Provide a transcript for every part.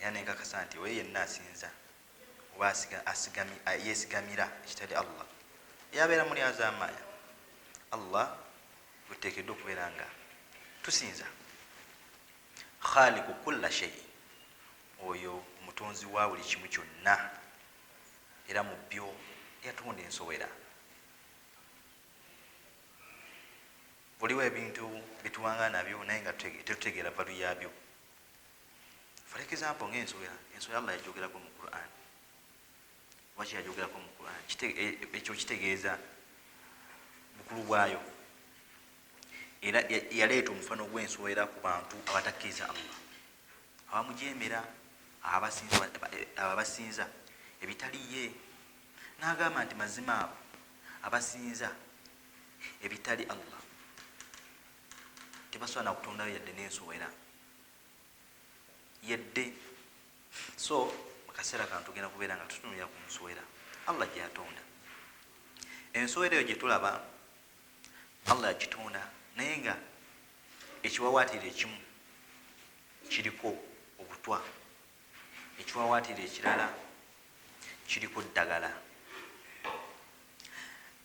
era nenkakasa nti oyo yenna asinza oba yesigamira ekitali allah yabeera mulyazamaya allah gwetutekeddwa okubeera nga tusinza khaliku kulla shei oyo omutonzi wa buli kimu kyonna era mu byo yatonda ensowera buliwo ebintu byetuwanga nabyo naye nga tetutegeera valu yabyo for example nga ensowera ensowera allah yajogerako mu quran waki yajogerako mu quran e, ekyo kitegeeza bukulu bwayo era yaleeta omufano gwensowera ku bantu abatakkiriza allah abamujemera ababasinza ebitali ye nagamba nti mazima abo abasinza ebitali allah tebasobola nakutondayo yadde nensowera yadde so mukaseera kano tugenda kubeera nga tutunulira ku nsowera allah gyeyatonda ensowera eyo gyetulaba allah yagitonda naye nga ekiwawaatiro ekimu kiriko obutwa ekiwawaatiro ekirala kiriko ddagala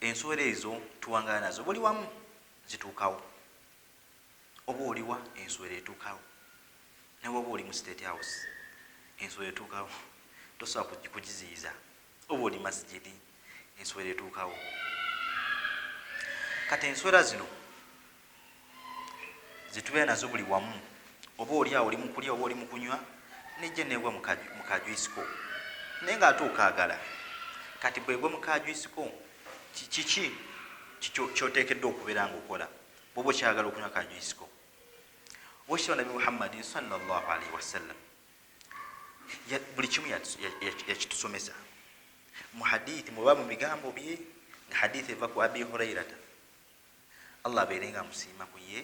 ensowera ezo tuwangala nazo buli wamu zituukawo oba oliwa enswera etuukawo nawe oba oli mu state house enswera etuukawo tosobola kugiziyiza oba oli masijidi enswera etuukawo kati enswera zino zetubeera nazo buli wamu oba oli awo oli mukulya oba oli mukunywa nejja negwa mukajwisiko naye nga ate okaagala kati bwegwe mukajwisiko Kiki kyoteekeddwa okubeera nga okola bwoba okyagala okunywa kajwisiko? Wakitibwa Nabi Muhammadin sallallahu alaihi wasallam buli kimu yakitusomesa mu hadithi muba mu bigambo bye nga hadithi eva ku abi hurairata allah abeere nga musiima ku ye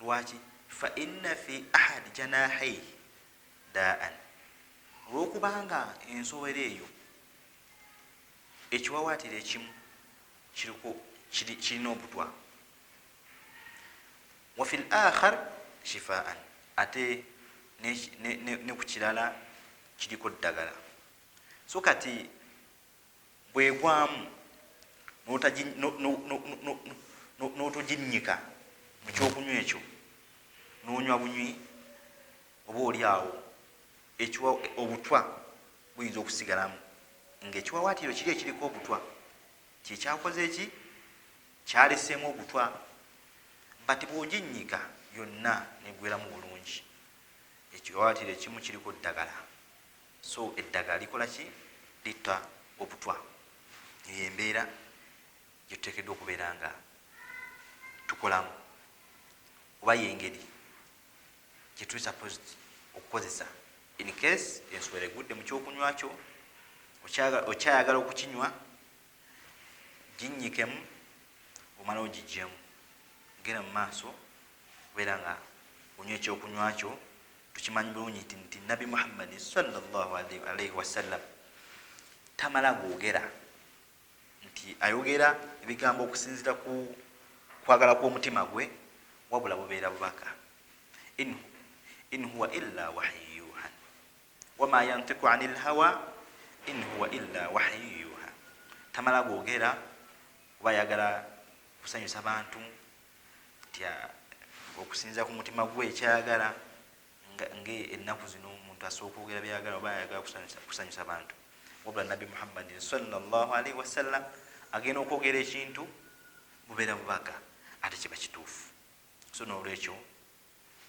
lwaki fa inna fi ahad janahaihi daan olwokubanga ensowera eyo ekiwawatiro ekimu kiriko kirina obutwa wafi l akhar shifaan ate ne ku kirala kiriko ddagala so kati bwegwamu n'otoginnyika mu kyokunywa ekyo n'onywa bunywi oba oli awo ekiwa obutwa buyinza okusigalamu ng'ekiwawaatiro kiri ekiriko obutwa kyekyakoze eki kyaleseemu obutwa but bw'oginnyika yonna negweramu bulungi ekiwawaatiro ekimu kiriko ddagala So eddagala likola ki? Litta obutwa. Eyo embeera gye tuteekeddwa okubeera nga tukolamu, oba yengeri gye tuli supposed okukozesa in case enswera egudde mu kyokunywa kyo okyayagala okukinywa ginyikemu omalawo gijjemu genda mu maaso kubeera nga onywa ekyokunywa kyo Tukimanyi bulungi nti nti Nabbi Muhammadi sallallahu alaihi wasallam tamala googera nti ayogera ebigambo okusinzira ku kwagala kw'omutima gwe wabula bubeera bubaka in huwa illa wahyu yuha wama yantiku ani lhawa in huwa illa wahyu yuha tamala googera oba ayagala kusanyusa bantu nti okusinza ku mutima gwe ekyagala nga ennaku zino omuntu asobola okwogera byagala oba ayagala kusanyusa bantu wabula nabbi muhammadin salllahalaihi wasallam agenda okwogera ekintu bubeera bubaga ate kiba kituufu so nolwekyo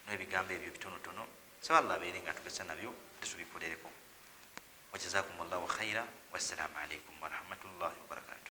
nebigambo ebyo bitonotono saba llah abeere nga tugesa nabyo tesubikorereko wajazakum llahu khaira wassalamu alaikum warahmatullahi wabarakatu